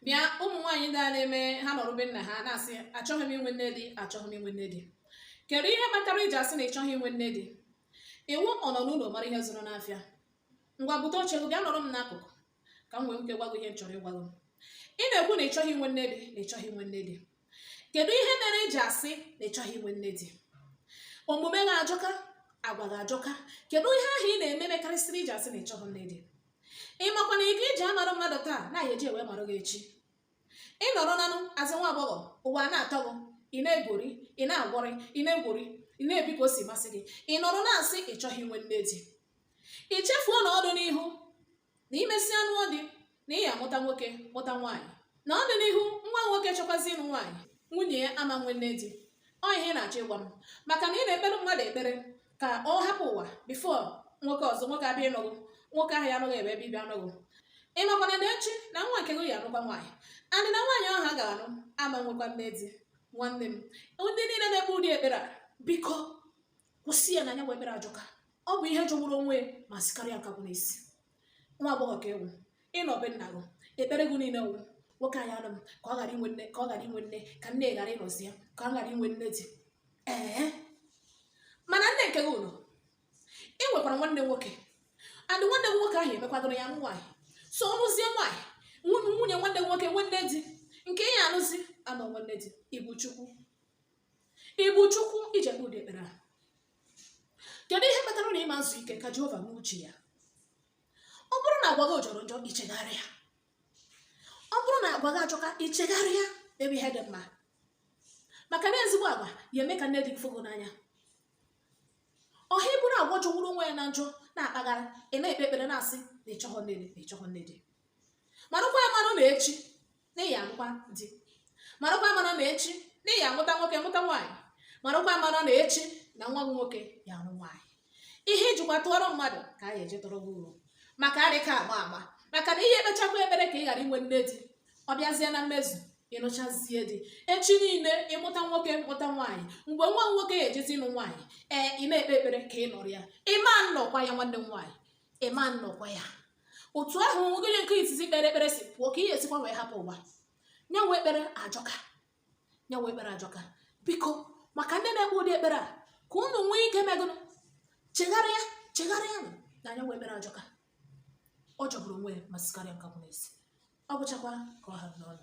bịa ụmụ nwaanyị ndị a na-eme ha nọrọ be nna ha na-asị achọghị m inwe nne di achọghị m inwe nne di kedu ihe kpatara i ji asị na ị chọghị inwe nne di ị wụ ọ nọ n'ụlọ mara ihe zụrụ n'afịa ngwa bute oche gị bịa nọrọ m n'akụkụ ka m nwee ike gwa gị ihe m chọrọ ịgwa gị ị na-ekwu na ị chọghị inwe nne di na ị chọghị inwe nne di kedu ihe mere i ji asị na ị chọghị inwe nne di omume gị ajọka agwa gị ajọka kedu ihe ahụ ị na-eme mekarịsịrị i ji asị na ị chọghị nne di ị makwa na iko i ji amarụ mmadụ taa na a ya eji ewe marụ gị echi ị nọrọ nanụ as nwa agbọghọ ụwa na-atọ gị ị na-egwori ị na-agwọrị ị na-egwori ị na-ebi ka o si masị gị ị nọrọ na-asị ị chọghị inwe nne di ị chefuo na ọ dụ n'ihu na i mesịa nụọ di na ị ya amụta nwoke mụta nwaanyị na ọ dụ n'ihu nwa nwoke chọkwazie ịnụ nwaanyị nwunye ya ama nwe nne di ọ ihe ị na-achọ ịgwa m maka na ị na-ekpere mmadụ ekpere ka ọ hapụ ụwa before nwoke ọzọ nwoke abịa ịnụ gị nwoke ahụ ya anụ gị ebe ebe ibe anụ gị ị makwana na echi na nwa nke gị ya anụkwa nwaanyị and na nwaanyị ahụ a ga-anụ ama nwekwa nne di nwanne m ndị niile na-ekpe ụdị ekpere a biko kwụsị ya na nya bụ ekpere ajọka ọ bụ ihe jọgburu onwe ma sikarịa nkakwụ n'isi nwa agbọghọ ka ị wụ ị nọ be nna gị ekpere gị niile wụ nwoke ahụ ya anụ m ka ọ ghara inwe nne ka ọ ghara inwe nne ka nne ghara ịnọzi ya ka ọ ghara inwe nne di ee mana nne nke gị ụlọ ị nwekwara nwanne nwoke and nwanne gị nwoke ahụ emekwadoro ya nwaanyị so ọ nụzie nwaanyị nwunye nwunye nwanne gị nwoke nwee nne di nke ị ya anụzi ama nwe nne di ị bụ chukwu ị bụ chukwu i ji ekpe ụdị ekpere a kedu ihe kpatara na ị ma nzu ike ka jehova mee uche ya ọ bụrụ na agwa gị jọrọ njọ i chegharịa ọ bụrụ na agwa gị ajọka i chegharịa mebe ihe dị mma maka na ezigbo agwa ya eme ka nne di fụ gị n'anya ọha i buru agwa jọgburu onwe ya na njọ na-akpagharị ị na-ekpe ekpere na-asị na ị chọghọ nne di na ị chọghọ nne di marakwa ya mara na echi na ị ya anụkwa di marakwa ya mara na echi na ị ya amụta nwoke mụta nwaanyị marakwa ya mara na echi na nwa gị nwoke ya anụ nwaanyị ihe i jikwa tụọrọ mmadụ ka a ya eji tụọrọ gị uru maka adịka agba agba maka na ị ya ekpechakwa ekpere ka ị ghara inwe nne di ọ bịazie na mmezu ị nụchazie di echi niile ị mụta nwoke mụta nwaanyị mgbe nwa nwoke ya ejezi ịnụ nwaanyị ee ị na-ekpe ekpere ka ị nọrọ ya ị ma nnọkwa ya nwanne m nwaanyị ị ma nnọkwa ya otu ahụ onye nke izizi kpere ekpere si pụọ ka ị ya esikwa wee hapụ ụwa nya wụ ekpere ajọka nya wụ ekpere ajọka biko maka ndị na-ekpe ụdị ekpere a ka unu nwee ike mee gụnụ chegharịa chegharịa nụ na nya wụ ekpere ajọka ọ jọgburu onwe ya ma sikarịa nkakwụ n'isi ọ bụchakwa ka ọ ha n'ọnụ